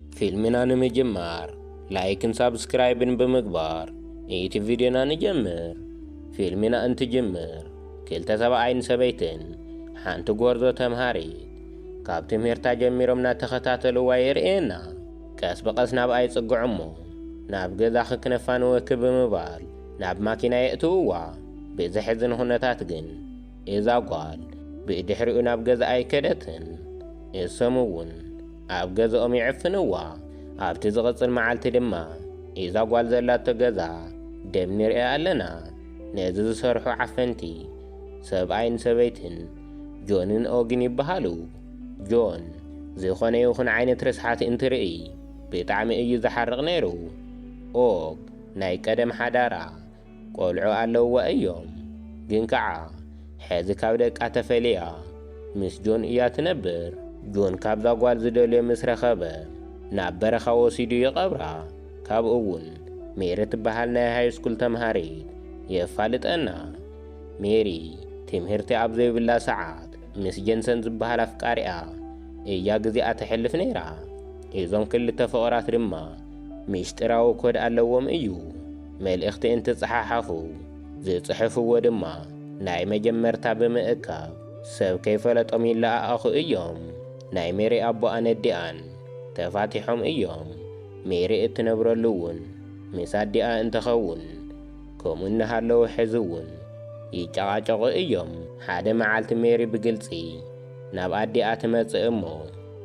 ፊልምና ንምጅማር ላይክን ሳብስክራይብን ብምግባር ነቲ ቪድዮና ንጀምር። ፊልምና እንትጅምር ክልተ ሰብኣይን ሰበይትን ሓንቲ ጎርዞ ተምሃሪት ካብ ትምህርታ ጀሚሮም እናተኸታተልዋ የርእየና። ቀስ ብቐስ ናብኣ ይጽግዑ እሞ ናብ ገዛኺ ክነፋንወኪ ብምባል ናብ ማኪና የእትውዋ። ብዘሕዝን ኹነታት ግን እዛ ጓል ብድሕሪኡ ናብ ገዝኣ ኣይከደትን። እሶም እውን ኣብ ገዝኦም ይዕፍንዋ። ኣብቲ ዝቕጽል መዓልቲ ድማ እዛ ጓል ዘላቶ ገዛ ደም ንርእያ ኣለና። ነዚ ዝሰርሑ ዓፈንቲ ሰብኣይን ሰበይትን ጆንን ኦግን ይበሃሉ። ጆን ዝዀነ ይኹን ዓይነት ርስሓት እንትርእይ ብጣዕሚ እዩ ዝሓርቕ ነይሩ። ኦግ ናይ ቀደም ሓዳራ ቆልዑ ኣለዉዋ እዮም ግን ከኣ ሕዚ ካብ ደቃ ተፈልያ ምስ ጆን እያ ትነብር። ጆን ካብዛ ጓል ዝደልዮ ምስ ረኸበ ናብ በረኻ ወሲዱ ይቐብራ ካብኡ ውን ሜሪ ትበሃል ናይ ሃይስኩል ተምሃሪት የፋልጠና ሜሪ ትምህርቲ ኣብ ዘይብላ ሰዓት ምስ ጀንሰን ዝበሃል ኣፍቃሪኣ እያ ግዚኣ ተሕልፍ ነይራ እዞም ክልተ ፍቕራት ድማ ሚስጢራዊ ኮድ ኣለዎም እዩ። መልእኽቲ እንትጸሓሓፉ ዝጽሕፍዎ ድማ ናይ መጀመርታ ብምእካብ ሰብ ከይፈለጦም ይለኣኣኹ እዮም። ናይ ሜሪ ኣቦኣን ኣዲኣን ተፋቲሖም እዮም። ሜሪ እትነብረሉ እውን ምስ ኣዲኣ እንትኸውን ከምኡ እናሃለወ ሕዚ እውን ይጨቓጨቑ እዮም። ሓደ መዓልቲ ሜሪ ብግልጺ ናብ ኣዲኣ ትመጽእ እሞ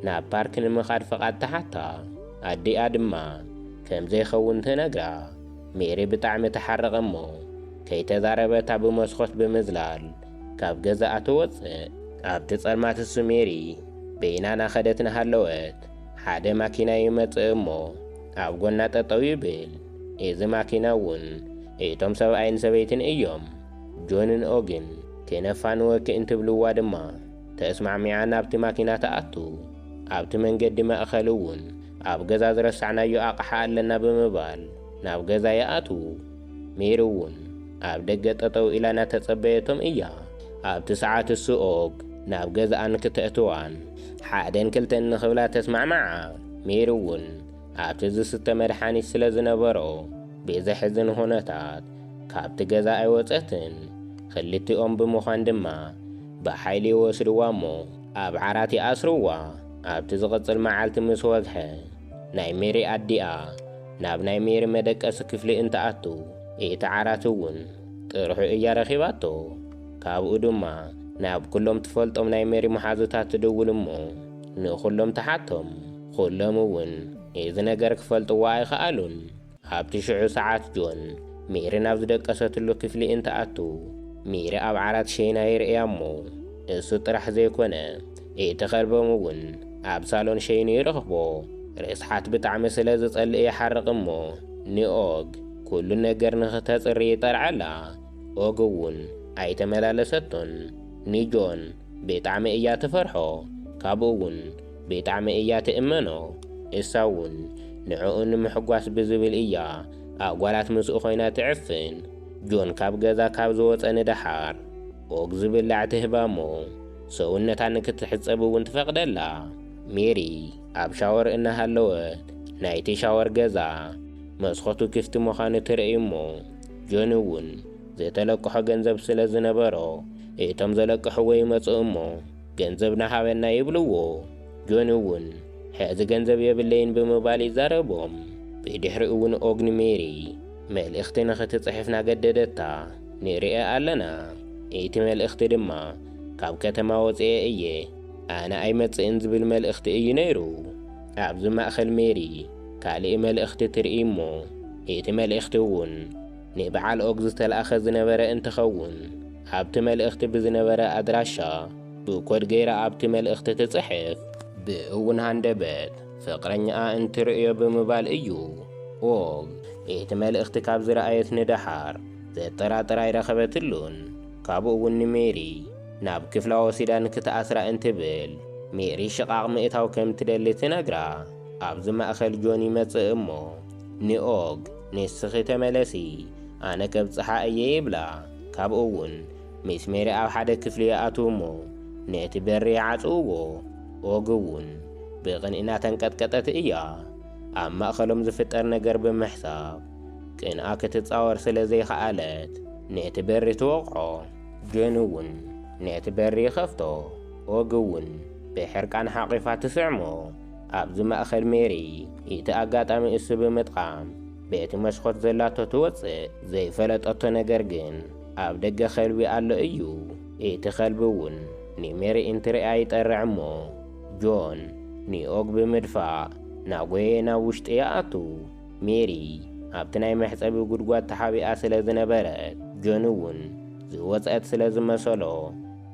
ናብ ፓርክ ንምኻድ ፍቓድ ትሓታ። ኣዲኣ ድማ ከም ዘይኸውን ትነግራ። ሜሪ ብጣዕሚ ትሓርቕ እሞ ከይተዛረበታ ብመስኮት ብምዝላል ካብ ገዛኣ ትወጽእ። ኣብቲ ጸልማት እሱ ሜሪ በይና ናኸደት ናሃለወት ሓደ ማኪና ይመጽእ እሞ ኣብ ጎና ጠጠው ይብል። እዚ ማኪና እውን እቶም ሰብኣይን ሰበይትን እዮም። ጆንን ኦጊን ኬነፋንወ ክእንትብልዋ ድማ ተስማዕሚዓ ናብቲ ማኪና ትኣቱ። ኣብቲ መንገዲ ማእከል እውን ኣብ ገዛ ዝረሳዕናዮ ኣቕሓ ኣለና ብምባል ናብ ገዛ ይኣትዉ። ሜሪ እውን ኣብ ደገ ጠጠው ኢላ እናተጸበየቶም እያ። ኣብቲ ሰዓት እሱ ኦግ ናብ ገዝኣን ክተእትዋን ሓደን ክልተን ንክብላ ተስማዕምዓ። ሜሪ እውን ኣብቲ ዝስተ መድሓኒት ስለ ዝነበሮ ብዘሕዝን ኹነታት ካብቲ ገዛ ኣይወፀትን። ኽልቲኦም ብምዃን ድማ ብሓይሊ ይወስድዋ እሞ ኣብ ዓራት ይኣስርዋ። ኣብቲ ዝቕፅል መዓልቲ ምስ ወግሐ ናይ ሜሪ ኣዲኣ ናብ ናይ ሜሪ መደቀሲ ክፍሊ እንትኣቱ እቲ ዓራት እውን ጥርሑ እያ ረኺባቶ። ካብኡ ድማ ናብ ኩሎም ትፈልጦም ናይ ሜሪ መሓዙታት ትድውል እሞ ንኹሎም ትሓቶም። ዅሎም እውን እዚ ነገር ኪፈልጥዎ ኣይኸኣሉን። ኣብቲ ሽዑ ሰዓት ጆን፣ ሜሪ ናብ ዝደቀሰትሉ ክፍሊ እንትኣቱ፣ ሜሪ ኣብ ዓራት ሸይና ይርእያ እሞ፣ እሱ ጥራሕ ዘይኮነ፣ እቲ ከልቦም እውን ኣብ ሳሎን ሸይኑ ይረኽቦ። ርስሓት ብጣዕሚ ስለ ዝጸልእ ይሓርቕ እሞ፣ ንኦግ ኵሉ ነገር ንኽተጽሪ ይጠርዓላ። ኦግ እውን ኣይተመላለሰቶን። ንጆን ብጣዕሚ እያ ትፈርሖ። ካብኡ እውን ብጣዕሚ እያ ትእመኖ እሳ ውን ንዕኡ ንምሕጓስ ብዝብል እያ ኣብ ጓላት ምስኡ ኮይና ትዕፍን ጆን ካብ ገዛ ካብ ዝወጸ ንደሓር ኦግ ዝብላዕ ትህባ እሞ ሰውነታ ንክትሕጸብ ውን ትፈቅደላ ሜሪ ኣብ ሻወር እናሃለወት ናይቲ ሻወር ገዛ መስኮቱ ክፍቲ ምዃኑ ትርእይ እሞ ጆን ውን ዝተለቅሖ ገንዘብ ስለ ዝነበሮ እቶም ዘለቅሕዎ ይመጹ እሞ ገንዘብና ሃበና ይብልዎ። ጆኒ እውን ሕዚ ገንዘብ የብለይን ብምባል ይዛረቦም። ብድሕሪኡ እውን ኦግኒ ሜሪ መልእኽቲ ንኽትጽሕፍ ናገደደታ ንርኣ ኣለና። እቲ መልእኽቲ ድማ ካብ ከተማ ወጺኤ እየ ኣነ ኣይመጽእን ዝብል መልእኽቲ እዩ ነይሩ። ኣብዚ ማእከል ሜሪ ካልእ መልእኽቲ ትርኢ እሞ እቲ መልእኽቲ እውን፣ ንበዓል ኦግ ዝተላእከ ዝነበረ እንትኸውን ኣብቲ መልእኽቲ ብዝነበረ ኣድራሻ ብኮድ ገይራ ኣብቲ መልእኽቲ ትፅሕፍ። ብእውን ሃንደበት ፍቕረኛኣ እንትርእዮ ብምባል እዩ ኦግ እቲ መልእኽቲ ካብ ዝረኣየት ንደሓር ዘጠራጥር ኣይረኸበትሉን። ካብኡ እውን ንሜሪ ናብ ክፍላ ወሲዳ ንክትኣስራ እንትብል ሜሪ ሽቓቕ ምእታው ከምትደሊ ትነግራ። ኣብዚ ማእኸል ጆን ይመፅእ እሞ ንኦግ ንስኺ ተመለሲ ኣነ ከብጽሓ እየ ይብላ። ካብኡ እውን ምስ ሜሪ ኣብ ሓደ ክፍሊ ይኣትዉ እሞ ነቲ በሪ ይዓጽውዎ። ኦግ እውን ብቕንኢ እናተንቀጥቀጠት እያ ኣብ ማእከሎም ዝፍጠር ነገር ብምሕሳብ። ቅንኣ ክትጻወር ስለ ዘይከኣለት ነቲ በሪ ትወቕዖ። ጆን እውን ነቲ በሪ ይኸፍቶ። ኦግ እውን ብሕርቃን ሓቚፋ ትስዕሞ። ኣብዚ ማእከል ሜሪ እቲ ኣጋጣሚ እሱ ብምጥቓም በቲ መስኮት ዘላቶ ትወጽእ ዘይፈለጠቶ ነገር ግን ኣብ ደገ ከልቢ ኣሎ እዩ እቲ ከልቢ እውን ንሜሪ እንትርእያ ይጠርዕ እሞ ጆን ንኦግ ብምድፋእ ናጎየ ናብ ውሽጢ ይኣቱ ሜሪ ኣብቲ ናይ መሕጸቢ ጉድጓድ ተሓቢኣ ስለ ዝነበረት ጆን እውን ዝወጽአት ስለ ዝመሰሎ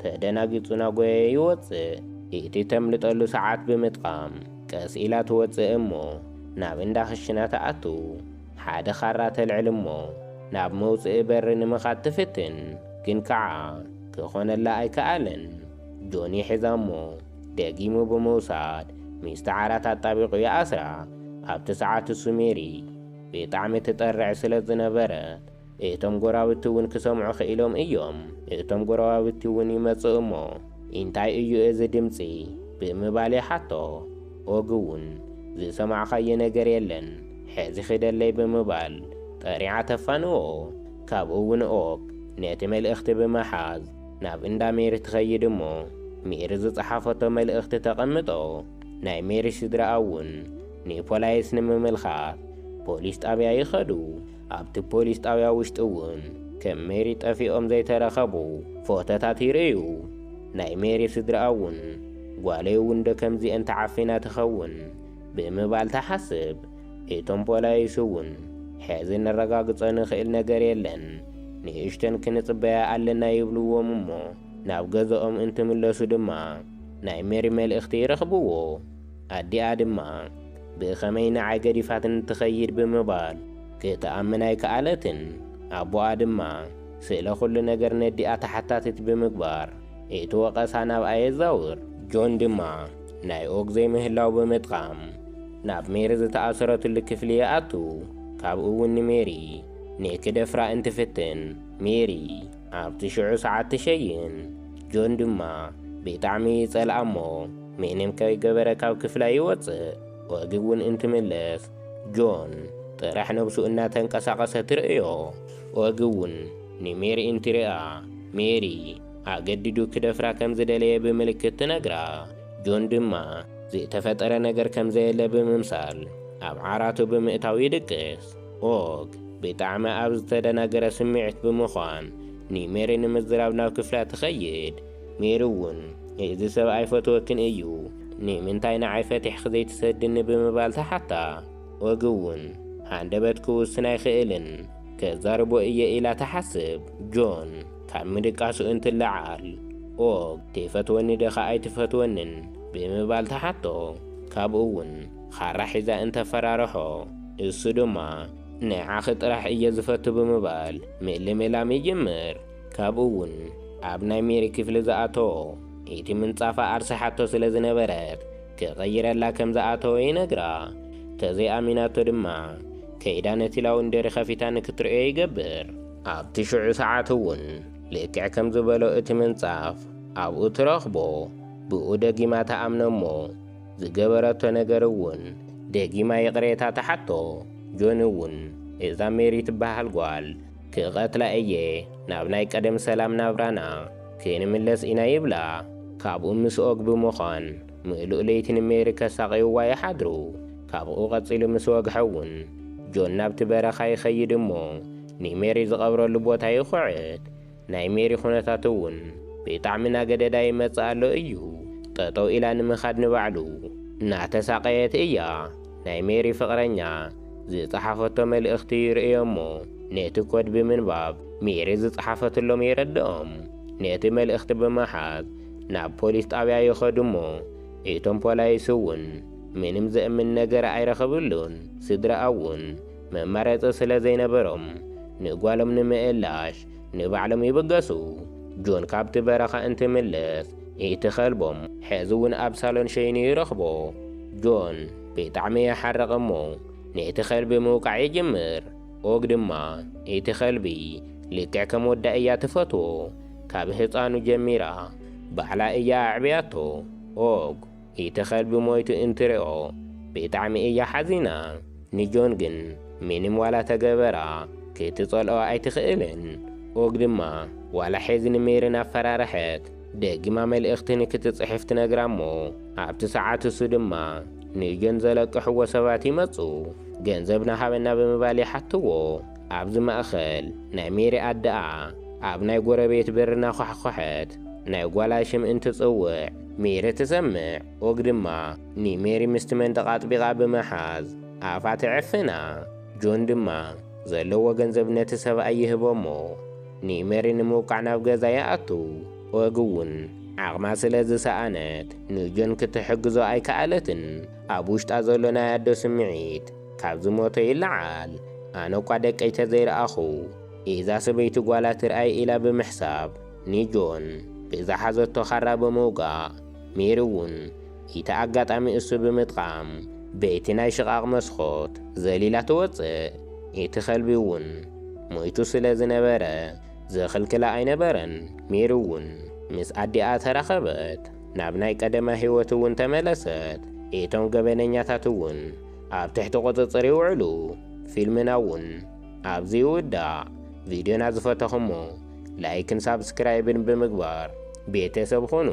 ተደናጊጹና ጎየ ይወጽእ ኢቲ ተምልጠሉ ሰዓት ብምጥቓም ቀስ ኢላ ትወጽእ እሞ ናብ እንዳ ክሽና ትኣቱ ሓደ ካራ ተልዕል እሞ ናብ መውጽኢ በሪ ንምኻድ ትፍትን ግን ካዓ ክኾነላ ኣይካኣለን ጆኒ ሒዛ እሞ ደጊሙ ብምውሳድ ሚስቲ ዓራት ኣጣቢቑ ይኣስራ ኣብቲ ሰዓት እሱ ሜሪ ብጣዕሚ ትጠርዕ ስለ ዝነበረት እቶም ጎራብቲ እውን ክሰምዑ ክኢሎም እዮም። እቶም ጎረባብቲ እውን ይመጽኡ እሞ፣ ኢንታይ እዩ እዚ ድምጺ? ብምባል ይሓቶ። ኦግ እውን፣ ዝሰማዕካዮ ነገር የለን፣ ሕዚ ኺደለይ ብምባል ጠሪዓ ተፋንዎ። ካብኡ እውን ኦግ ነቲ መልእኽቲ ብምሓዝ ናብ እንዳ ሜሪ ትኸይድ እሞ፣ ሜሪ ዝጸሓፈቶ መልእኽቲ ተቐምጦ። ናይ ሜሪ ስድራኣ እውን ንፖላይስ ንምምልካት ፖሊስ ጣብያ ይኸዱ። ኣብቲ ፖሊስ ጣብያ ውሽጢ እውን ከም ሜሪ ጠፊኦም ዘይተረኸቡ ፎቶታት ይርእዩ። ናይ ሜሪ ስድርኣ እውን ጓለይ እውን ዶ ከምዚኤን ተዓፊና ትኸውን ብምባል ትሓስብ። እቶም ፖላይስ እውን ሕዚ ነረጋግፆ ንኽእል ነገር የለን ንእሽተን ክንፅበያ ኣለና ይብልዎም እሞ ናብ ገዘኦም እንትምለሱ ድማ ናይ ሜሪ መልእኽቲ ይረኽብዎ። ኣዲኣ ድማ ብኸመይ ንዓይ ገዲፋትኒ ትኸይድ ብምባል ክትኣምን ኣይከኣለትን። ኣቦኣ ድማ ስለ ኹሉ ነገር ነዲኣ ተሓታቲት ብምግባር እቲ ወቐሳ ናብኣ የዛውር። ጆን ድማ ናይ ኦግ ዘይምህላው ብምጥቓም ናብ ሜሪ ዝተኣሰረትሉ ክፍሊ ይኣቱ ካብኡ እውን ንሜሪ ንክደፍራ እንትፍትን ሜሪ። ኣብቲ ሽዑ ሰዓት ትሸይን። ጆን ድማ ብጣዕሚ ይጸልኣ እሞ ምንም ከይገበረ ካብ ክፍላ ይወጽእ። ኦጊ እውን እንትምለስ ጆን ጥራሕ ነብሱ እናተንቀሳቐሰ ትርእዮ። ኦጊ እውን ንሜሪ እንትሪኣ ሜሪ ኣገዲዱ ክደፍራ ከም ዝደለየ ብምልክት ትነግራ። ጆን ድማ ዝተፈጠረ ነገር ከም ዘየለ ብምምሳል ኣብ ዓራቱ ብምእታው ይድቅስ። ኦግ ብጣዕሚ ኣብ ዝተደናገረ ስምዒት ብምዃን ንሜሪ ንምዝራብ ናብ ክፍላ ትኸይድ። ሜሪ ውን እዚ ሰብ ኣይፈትወክን እዩ ንምንታይ ንዓይ ፈቲሕኺ ዘይትሰድኒ ብምባል ትሓታ። ኦግ ውን ሃንደበት ክውስን ኣይኽእልን ከዛርቦ እየ ኢላ ትሓስብ። ጆን ካብ ምድቃሱ እንትለዓል ኦግ ትፈትወኒ ድኻ ኣይትፈትወንን ብምባል ትሓቶ። ካብኡ ውን ኻራ ሒዛ እንተፈራርሖ፣ እሱ ድማ ንዓኺ ጥራሕ እየ ዝፈቱ ብምባል ምልምላም ይጅምር። ካብኡ'ውን ኣብ ናይ ሜሪ ክፍሊ ዝኣተዎ እቲ ምንጻፋ ኣርሲሓቶ ስለ ዝነበረት ክቕይረላ ከም ዝኣተወ ይነግራ። ተዘይኣሚናቶ ድማ ከይዳ ነቲ ላውንደሪ ኸፊታ ንክትርእዮ ይገብር። ኣብቲ ሽዑ ሰዓት'ውን ልክዕ ከም ዝበሎ እቲ ምንጻፍ ኣብኡ ትረኽቦ። ብኡ ደጊማ ትኣምኖ'ሞ ዝገበረቶ ነገር እውን ደጊማ ይቅሬታ ትሓቶ ጆኒ እውን እዛ ሜሪ ትበሃል ጓል ክቀትላ እየ ናብ ናይ ቀደም ሰላም ናብራና ክንምለስ ኢና ይብላ ካብኡ ምስ ኦግ ብምዃን ምእሉእ ለይቲ ንሜሪ ከሳቅይዋ ይሓድሩ ካብኡ ቀፂሉ ምስ ወግሐ እውን ጆን ናብቲ በረኻ ይኸይድ እሞ ንሜሪ ዝቀብረሉ ቦታ ይኹዕት ናይ ሜሪ ኹነታት እውን ብጣዕሚ ናገደዳ ይመጽእ ኣሎ እዩ ጠጠው ኢላ ንምኻድ ንባዕሉ ናተሳቀየት እያ ናይ ሜሪ ፍቅረኛ ዝጸሓፈቶ መልእኽቲ ይርእዮ እሞ ነቲ ኮድ ብምንባብ ሜሪ ዝጸሓፈትሎም የረድኦም ነቲ መልእኽቲ ብምሓዝ ናብ ፖሊስ ጣብያ ይኸዱ እሞ እቶም ፖላይስ እውን ምንም ዘእምን ነገር ኣይረኸብሉን ስድርኣ እውን መማረጺ ስለዘይነበሮም ንጓሎም ንምእላሽ ንባዕሎም ይብገሱ። ጆን ካብቲ በረኻ እንትምለስ እቲ ከልቦም ሕዚ እውን ኣብ ሳሎን ሸይኑ ይረኽቦ። ጆን ብጣዕሚ ይሓርቕ እሞ ነቲ ከልቢ ምውቃዕ ይጅምር። ኦግ ድማ እቲ ከልቢ ልክዕ ከም ወዳ እያ ትፈትዎ። ካብ ህፃኑ ጀሚራ ባዕላ እያ ኣዕብያቶ። ኦግ ኢቲ ከልቢ ሞይቱ ኢንትሪኦ ቢጣዕሚ ኢያ ሓዚና ንጆን ግን ሚኒም ዋላ ተገበራ ኪትጸልኦ ኣይቲክእልን ኡግ ድማ ዋላ ሒዚ ንሜሪ ናፈራረሐት ደጊማ መልእክቲ ንኪትጽሕፍ ትነግራ እሞ ኣብቲ ሳዓት እሱ ድማ ንጆን ዘለቅሕዎ ሰባት ይመጹ ገንዘብና ሃበና ብምባል ይሓትዎ ኣብዚ ማእከል ናይ ሜሪ ኣደኣ ኣብ ናይ ጎረቤት በሪ ናኳሕኮሐት ናይ ጓላ ሽም ኢንትጽውዕ ሜሪ ትሰምዕ፣ ኦግ ድማ ንሜሪ ምስቲ መንደቕ ኣጥቢቓ ብምሓዝ ኣፋ ትዕፍና። ጆን ድማ ዘለዎ ገንዘብ ነቲ ሰብኣይ ይህቦ እሞ ንሜሪ ንምውቃዕ ናብ ገዛ ይኣቱ። ኦግ እውን ዓቕማ ስለ ዝሰኣነት ንጆን ክትሕግዞ ኣይከኣለትን። ኣብ ውሽጣ ዘሎ ናይ ኣዶ ስምዒት ካብ ዝሞተ ይለዓል። ኣነ'ኳ ደቀይ ተዘይረኣኹ እዛ ሰበይቲ ጓላ ትርኣይ ኢላ ብምሕሳብ፣ ንጆን ብዝሓዘቶ ኻራ ብምውጋእ፣ ሜሪ እውን ኢቲ ኣጋጣሚ እሱ ብምጥቓም በቲ ናይ ሽቓቕ መስኾት ዘሊላ ትወጽእ። ኢቲ ኸልቢ እውን ሞይቱ ስለ ዝነበረ ዝኽልክላ ኣይነበረን። ሜሪ እውን ምስ ኣዲኣ ተራኸበት፣ ናብ ናይ ቀደማ ህይወት እውን ተመለሰት። ኢቶም ገበነኛታት እውን ኣብ ትሕቲ ቁጽጽር ይውዕሉ። ፊልምና እውን ኣብዚ ይውዳእ ቪድዮና ዝፈተኹሞ ላይክን ሳብስክራይብን ብምግባር ቤተሰብ ኹኑ።